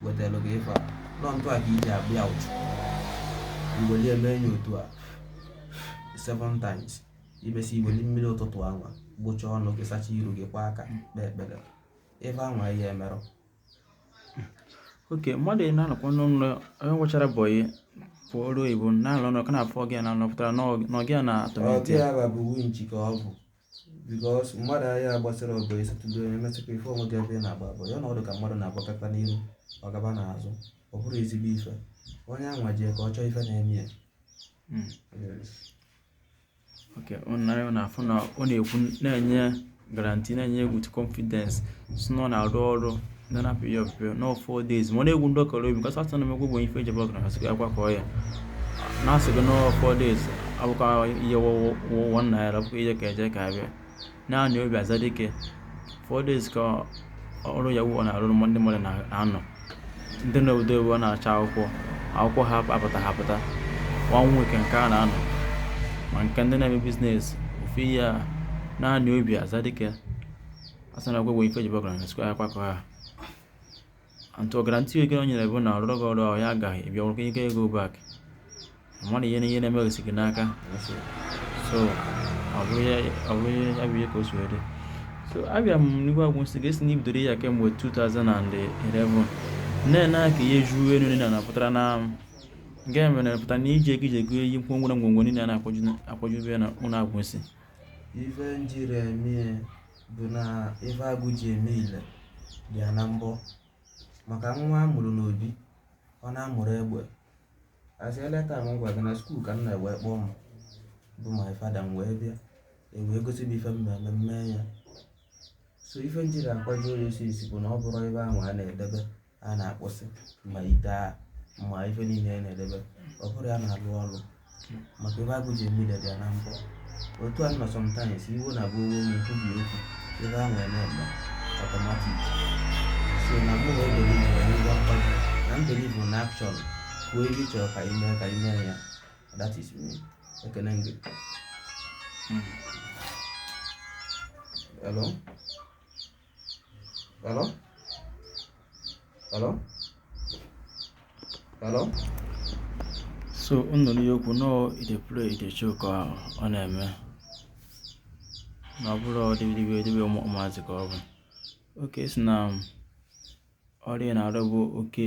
wetara gị ife a nọ ntụ a ka iji abịa ụchụ iweli eme enyi otu a seven times ibesi iweli mmiri ụtụtụ anwa gbocha ọnụ gị sacha iru gị kwa aka kpee ekpere ife anwa ihe emerụ oke mmadụ ị na-anọkwa n'ụlọ onye nwechara bọyị pụọ ọrụ oyibo na-alụ ọnụ ka na-afọ gị na nọpụtara n'ọgị a na-atọmenti ya bụ winchi ka ọ bụ because mmadụ ahịa agbasara ọbụ ịsatụdo onye metụkwa ife onwe gị ebe ị na-agba bọyị na ọdụ ka mmadụ na-agbakata n'iru ọ gaba n'azụ ọ bụrụ ezigbo ife onye anwa jee ka ọ chọọ ife na-eme ya hmm. oke unu na-afụ na ọ na-ekwu na-enye guarantee na-enye gị confidence si na ọ na-arụ ọrụ na na pịa ọpịpịa na four days ma ọ na-egwu ndị ọkara obi kasị atụ na m egwugbo ife ejebe ọkara kasị akwa ka ọ ya na-asị gị na four days abụkwa ihe wụwọ nna ya abụkwa ihe ka e je ka a bịa naanị obi aza dike four days ka ọrụ ya wụ ọ na-arụ mgbe ndị mmadụ na-anọ ndị na-ebudo ewu na-acha akwụkwọ akwụkwọ ha apụta ha apụta nwa nwoke nke a na-anọ ma nke ndị na-eme business ofe ihe a naanị obi aza dike a sị na ọgwụgwọ ife jibe ọgaranya sikwa ya kwakọ ha antụ guarantee ego o nyere bụ na ọrụrụ gị ọrụ ahụ ya agaghị ịbịa ọrụkọ ike ego back mmadụ ihe na ihe na-eme gị n'aka so ọ bụrụ ya bụ ihe ka o si dị so abịa m n'igwe Agwụ Nsị ga-esi na ibidoro ya kemgbe 2011 na-ene ka ihe juo elu niile na-apụtara na nke mere na-apụta na iji ego iji ego eyi ngwongwo na ngwongwo niile na-akwajube na ụlọ Agwụ Nsị ife m jiri eme bụ na ife agụ ji eme ile dị ya na mbọ maka nwa a mụrụ n'obi ọ na-amụrụ egbe asị eleta m gwa gị na school ka nna m wee kpọọ m bụ my father m wee bịa e wee gosi m ife m na-eme m mee ya so ife m jiri akwado ya osisi bụ na ọ bụrụ ebe ahụ a na-edebe a na-akpọsị ma ite a ma ife niile a na-edebe ọ bụrụ ya na-alụ ọrụ maka ife agụ ji eme ile dị ya na mbọ otu a nọ sometimes iwu na bụ owo ma ekwubi okwu ife a nwere na-eme automatic so na mụ na-ebelieve onye ngwa mkpado na m believe na action kwuo ife ị chọrọ ka ị mee ka ị mee ya that is me ekene m gị hello Hello? Hello? Hello? so unu n'ihe okwu nọ e dey play e dey show ka ọ na-eme na ọ bụrụ ọdịbidibe edibe ụmụazị ka ọ bụ oke si na ọrụ a na-arụ bụ oke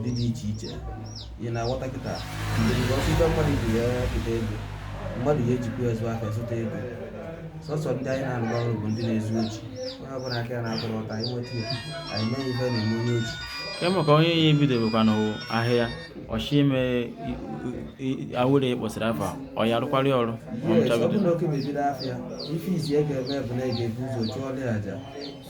ndị dị iche iche ị na-aghọta kịta ọsụta mmadụ ji ya kịta ego mmadụ ya ejikwa ezu aka zụta ego sọsọ ndị anyị na-arụ ọrụ bụ ndị na-ezu ochi onye ọbụla aka ya na-atụrụ ụta anyị nweta ya anyị mee ife na-eme onye oshi kemụ ka onye ya ebidobekwana ahịa ọ chọọ ime awele kpọsịrị afa ọ ya arụkwara ya ọrụ ma ọ Yes, ọ nchabido bụrụ na oke mebiri afịa ife izizi ị ga-eme bụ na ị ga-ebu ụzọ chụọlụ ya aja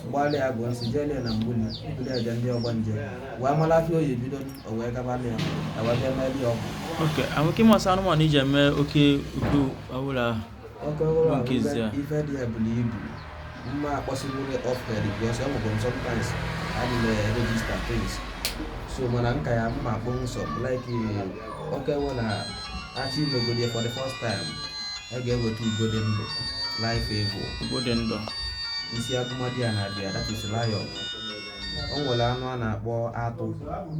gbalị ya gụọ si jee na mgbuli bụrụ eje ndị ọgbanje wee mara afịa oyi bido o wee gaba na ya ewee bịa mee ya ọgwụ oke amụke ịma isi anụmanụ e ji eme oke oke ọbụla oke ọhụrụ Bụ nke izizi ahụ ife dị ya buru ibu mma akpọsịbụrụ ọfere because e nwere sometimes adị na register things so mana nka ya m ma akpọnwu sọ like oke nwe na a chọọ imegodi ya for the first time a ga-eweta ugo dị ndụ live eagle ugo dị ndụ isi agụ na-adị ya na-abịa that is lion o nwere anụ a na-akpọ atụ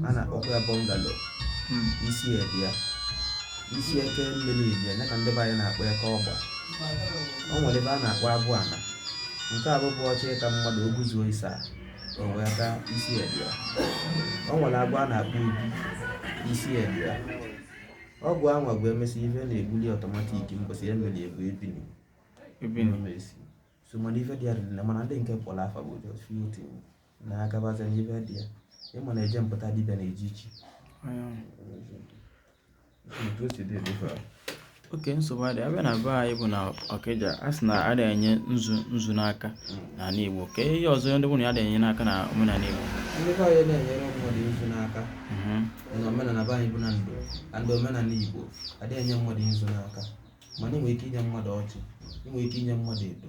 a na-akpọkwa ya bungalow hmm. isi ya adị ya isi eke mmiri adị ya ka ndị be anyị na-akpọ eke ọgba o nwere agwọ a na-akpọ abụ ana nke ahụ bụ ọ chọọ ịta mmadụ ọ gụzuo ịsaa o wee aka isi ya adị ya o nwere agwọ a na-akpọ ubi isi ya adị ya ọgwụ anwa bụ e mesịa ife na-ebuli automatic mbọsị ya mere egwu ebini ebini mesi so mana ife dị ya dị na mana ndị nke kpọrọ afa bụ just few things na agabaza n'ife dị ya ịma na eje mpụta dibịa na-eji ichi otu o si dị edofe okay nsogbu adị ya bịa na be anyị bụ na ọkịja a sị na a na-enye nzu nzu n'aka n'ala igbo ka ihe ọzọ ndị bụ na adị enye n'aka na omenala igbo ndị be anyị na-enyere mmadụ nzu n'aka mhm. na omenala be anyị bụ na ndụ na ndị omenala igbo adịghị enye mmadụ nzu n'aka mana ị nwere ike inye mmadụ ọjị ị nwere ike inye mmadụ edo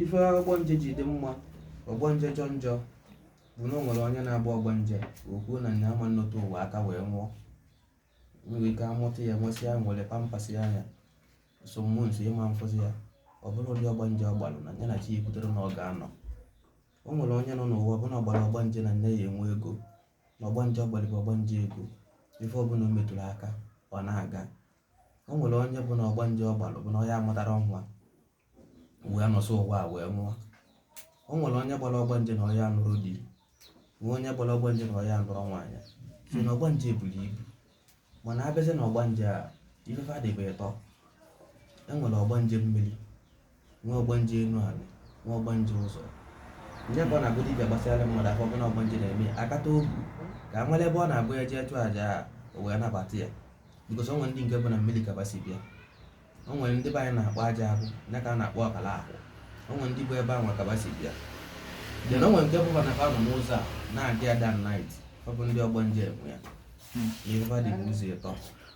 ife ọgbanje ji dị mma ọgbanje jọ njọ bụ na o nwere onye na-agba ọgbanje o kwuo na nya ama anọte ụwa aka wee nwụọ nwere ike amụta ya nwesịa nwere pampasịa ya some months ị ma afụzi ya ọ bụrụ ụdị ọgbanje ọ gbalụ na ya na chi ya kwutere na ọ ga-anọ o nwere onye nọ n'ụwa ọ bụ na ọ gbara ọgbanje na nya ya enwe ego na ọgbanje ọ gbalụ bụ ọgbanje ego ife ọbụla o metụrụ aka ọ na-aga o nwere onye bụ na ọgbanje ọ gbalụ bụ na ọ ya amụtara nwa wee nọsịa ụwa a wee nwụọ o nwere onye gbara ọgbanje na ọ ya nụrụ di nwee onye gbara ọgbanje na ọ ya nụrụ nwaanyị so na ọgbanje buru ibu mana abịazie na ọgbanje a ife fa dị ebe ịtọ e nwere ọgbanje mmiri nwee ọgbanje enu ala nwee ọgbanje ụzọ nya ka ọ na-abụ dibịa gbasara mmadụ afa ọ bụrụ na ọgbanje na-eme ya akata obu ka a mara ebe ọ na-abụ ya jee chụọ aja a o wee nabata ya bikos o nwere ndị nke bụ na mmiri ka ba si bịa o nwere ndị be anyị na-akpọ aja ahụ ya ka a na-akpọ ọkala ahụ o nwere ndị bụ ebe ahụ ka ba si bịa then o nwere nke bụkwa na fa nọ n'ụzọ a na-adị ada nit ọ bụ ndị ọgbanje enwe ya ihe fa dị n'ụzọ ịtọ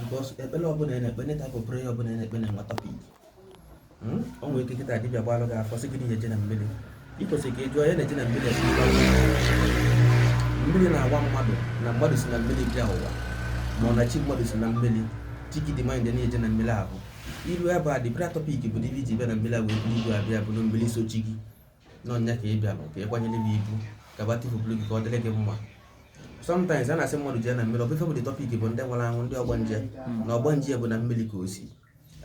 because ekpere ọbụla ị na-ekpe neta bụ prayer ọbụla ị na-ekpe na-enwe topic hmm? o nwere ike kịta dibịa gbalụ gị afa sị gị na eje na mmiri ị kwesịrị ka ị jụọ ya na-eje na mmiri mmiri na-agwa mmadụ na mmadụ si na mmiri bịa ụwa ma ọ na chi mmadụ si na mmiri chi gị demand na-eje na mmiri ahụ ilu ebe a dibra topic bụ dibịa ji bịa na mmiri a wee buru igwe abịa bụrụ mmiri so chi gị na ọ nya ka ị bịara ka ị kwanyere m ibu ka ba tivupụrụ gị ka ọ dịrị gị mma sometimes a na-asị mmadụ jee na mmiri ọ bụ ife bụ the topic bụ ndị nwụrụ anwụ ndị ọgbanje hmm. na ọgbanje bụ na mmiri ka o si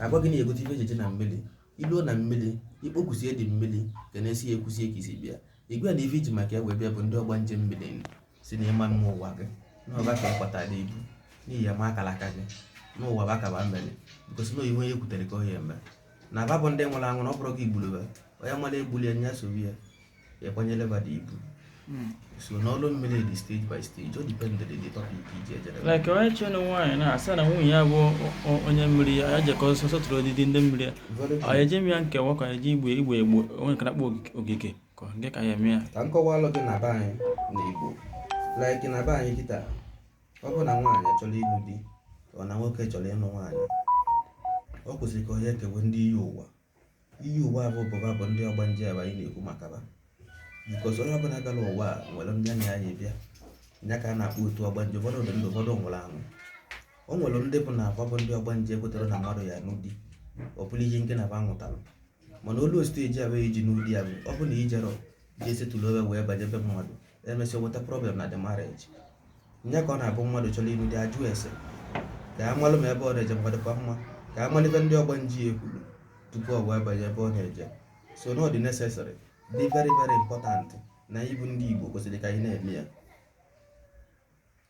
agwa gị na egote ife ejeje na mmiri i luo na mmiri i kpokusie ndị mmiri ka a na-esi ya ekwusie ka i si bịa igwe na ife i ji maka ya wee bịa bụ ndị ọgbanje mmiri si na ịma mma ụwa gị na ọ ba ka ị kpọta dị ibu n'ihi ya ma akara aka gị n'ụwa bụ aka ba mmeri gosi na onye kwutere ka onye eme na ba bụ ndị nwụrụ anwụ ọ bụrụ gị igburu onye mara egbuli ya nya sobi ya ịkwanyere ba dị ibu hmm. so na ọlụ mmiri dị stage by stage o dependịrị the topic i ji ejere like onye che na nwaanyị na-asị na nwunye ya bụ onye mmiri ya jekọ sọsọ tụrụ odidi ndị mmiri ya ọ eje m ya nkewa ka eje igbe igbe egbo onye nke na-akpọ ogige Ka ọ dị ka ya eme ya. ka m kọwalụ gị na be anyị na Igbo like na be anyị kịta ọ bụ na nwaanyị chọrọ ịlụ di ọ na nwoke chọrọ ịlụ nwaanyị o kwesịrị ka onye kewe ndị iyi ụwa iyi ụwa bụ bụ ba bụ ndị ọgbanje ebe anyị na-ekwu maka ba bikos onye ọbụla gara ụwa a nwere ndị anya anyị bịa ya ka a na-akpọ otu ọgbanje ụfọdụ dị ndụ ụfọdụ nwụrụ anwụ o nwere ndị bụ na akwa bụ ndị ọgbanje kwetara na mmadụ ya-anụ di ọ bụrụ ihe nke na ba nwụtara mana olu osite eji abụ eji n'ụdị ya bụ ọ bụ na i jerọ je settle owe wee banye ebe mmadụ emesịa weta problem na the marriage nya ka ọ na-abụ mmadụ chọrọ ịlụ di ajụ ese ka a malụ ma ebe ọ na-eje ma ọ dịkwa mma ka a malụ ife ndị ọgbanje ya ekwuru tupu ọ wee banye ebe ọ na-eje so na ọ dị necessary dị very very important na anyị bụ ndị Igbo kwesịrị ka anyị na-eme ya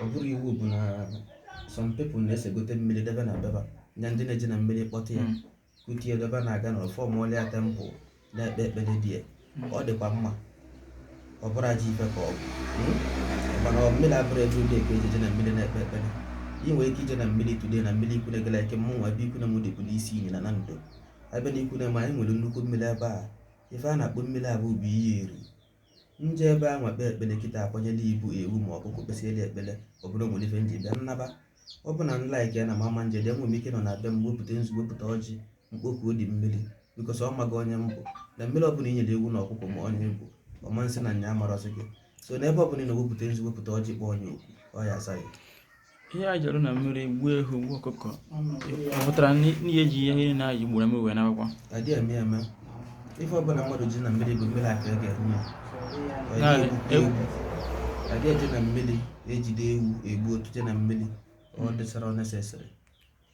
ọ bụrọ iwu bụ na some people na-esegote mmiri debe na be ba nya ndị na-eje na mmiri kpọta ya Mm. kute ya debe na-aga na ọfọm ọlịa temple na-ekpe ekpere dị ya Mm. ọ dịkwa mma ọ bụrọ ajọ ife ka ọ bụ Mm? mana ọ mmiri abụrụ ebe ụdị ka ejeje na mmiri na-ekpe ekpere ị nwere ike ije na mmiri today na mmiri ikwu na-egela ike mụ nwa ebe ikwu na mụ dịkwu n'isi iyi na na ndo ebe na ikwu n'ama anyị nwere nnukwu mmiri ebe a ife a na-akpọ mmiri a bụ bụ iyi eri nje ebe ahụ ekpe ekpere kịta akwanyela ibu ewu ma ọkụkọ kpesiere ekpere ọ bụ na nwere ife nji bịa nnaba ọ bụ na n like ya na mama nje dị enwe m ike nọ na be m wepụta nzu wepụta ọjị m kpoku odi mmiri because ọ mago onye m bụ na mmiri ọbụla i nyere ewu na ọkụkọ ma onye ị bụ ọ ma asị na nya amarọzị gị so n'ebe ọbụla ị nọ wepụta nzu wepụta ọjị kpọọ nya oku ọ ya asa gị ihe anyị jere na mmiri gbuo ehu gbuo ọkụkọ ọ pụtara na ihe eji ihe niile anyị gburu mmiri wee nabakwa adị eme eme ife ọbụla mmadụ ji na mmiri bụ mmiri ka ọ ga-eme ya. Ọ dịghị Naanị egbukwa ewu. ewu. adị eje na mmiri ejide ewu egbuo tụnye na mmiri ọ dịsara ọ nesesịrị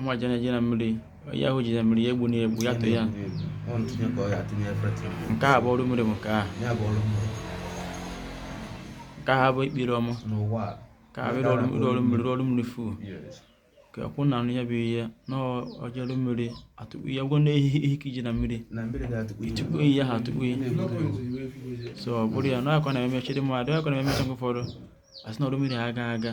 nwa je na je na mmiri onye ahụ je na mmiri ya egbu na egbu ya tụ ya nke a bụ ọrụ mmiri bụ nke a nke a bụ ekpere ọma ka a bụrụ ọrụ mmiri ọrụ mmiri fu ka akwụ na anụ ya bụ ihe na ọ je ọrụ mmiri atụkpu ya gwọ n'ehihi ihe ka iji na mmiri tupu iyi ya ha atụkpu ya so ọ bụrụ ya na akwa na-emechi dị mmadụ akwa na-emechi nke ụfọdụ asị na ọrụ mmiri ha aga aga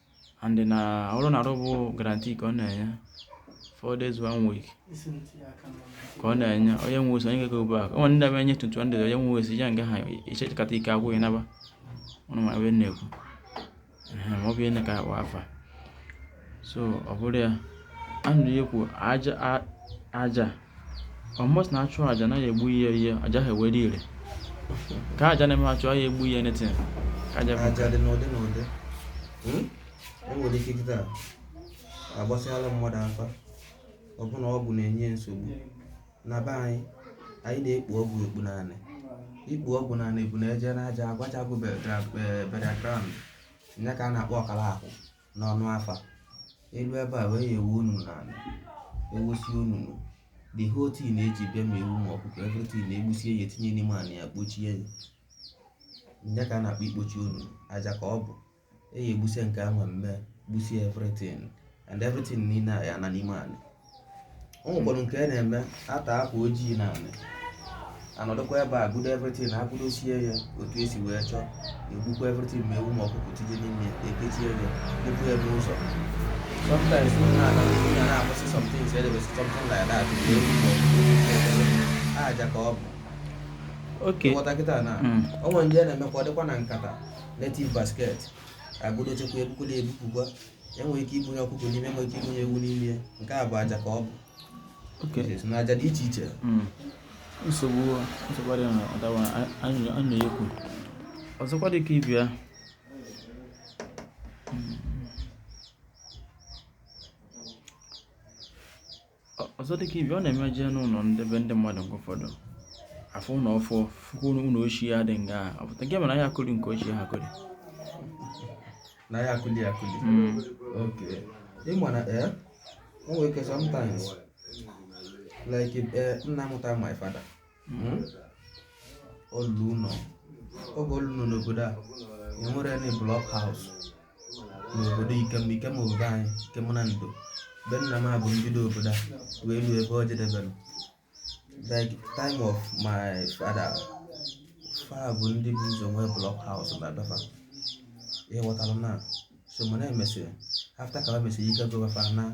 and na ọrụ na-arụ bụ guarantee ka ọ na-enye four days one week ka ọ na-enye onye nwe osi onye ga-ego bụ aka o nwe ndị na-enye 21 onye nwe osi ya nga ha i chekata ike agwụ gị naba ọnụ ma ebe na-ekwu ma ọ bụ ihe ka agba afa so ọ bụrụ ya anụ ya kwu aja aja ọ must na-achụ aja na ya egbu ihe ihe aja ha ewere ire ka aja na-eme achụ ya egbu anything ka aja aja dị n'ụdị n'ụdị hmm? e nwere ike kịta agbasịala mmadụ afa ọ bụ na ọgwụ na-enye nsogbu na be anyị anyị na-ekpu ọgwụ ekpu n'anị ikpu ọgwụ n'anị bụ na eje n'ajọ agụ ajọ agụ burial ground ya ka a na-akpọ ọkara akwụ n'ọnụ afa elu ebe ahụ egwu onunu n'ala egwusi onunu the whole thing na-eji bịa ma ewu ma ọkụkọ everything na-egbusie ya etinye n'ime ala ya kpochie ya nya ka a na-akpọ ikpochi onunu aja ka ọ bụ eyi egbusie nke ahụ mme gbusie everything and everything niile a ya ana n'ime ala o nwekwara nke a na-eme atọ akwa ojii n'anị anọdụkwa ebe agọdo everything agọdosie ya otu esi wee chọọ egbukwa everything ma ewu ma ọkụkọ tinye n'ime ya ekechie ya kpụpụ ya n'ụzọ sometimes unu na-aga unu ya na-ahụsị something so edebesi something like that ma ewu ma ọkụkọ aja ka ọ bụ okay nghọta kịta na Mm. o nwe ndị a na-emekwa ọ dịkwa na nkata native basket agọdochakwa ebukuru ebupụkwa enwere ike ibunye ọkụkọ n'ime enwere ike ibunye ewu n'ime ya nke a bụ aja ka ọ bụ Okay. so na aja dị iche iche Mm. nsogbu nsogbu adịghị na ọdawa anyị anyị na-ekwu ọzọkwa dị ka ibi ya ọzọ dịka ibi ọ na-eme jee n'ụlọ ndị be ndị mmadụ nke ụfọdụ a fụ ụlọ ọfụụ fụkwa ụlọ ochie ya dị nga ọ pụta nke mere ahịa akụli nke ochie ha kụli n'ahịa akụli akụli okay ịma na ee o nwere ike sometimes like eh, nna mụta my father hmm? ọ lụ ụlọ oge ọ lụ ụlọ n'obodo a enwere any block house n'obodo ikem ikem obodo anyị ikem na ndị be nna m abụ mbido obodo a wee ruo ebe ọ jedebere like time of my father fa bụ ndị bu ụzọ nwee block house na be fa ịghọtara na so mana emesịrị after ka ha mesịrị ike gụwa fa na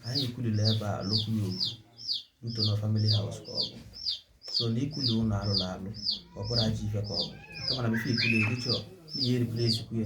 anyị ekwulila ebe a lokwu ya okwu nto na family house ka ọ bụ so na ikwuli ụlọ a lụlụ alụ ọ bụrọ ajọ ife ka ọ bụ kama na before ikwuli erichọ n'ihe erikwuli esikwu ya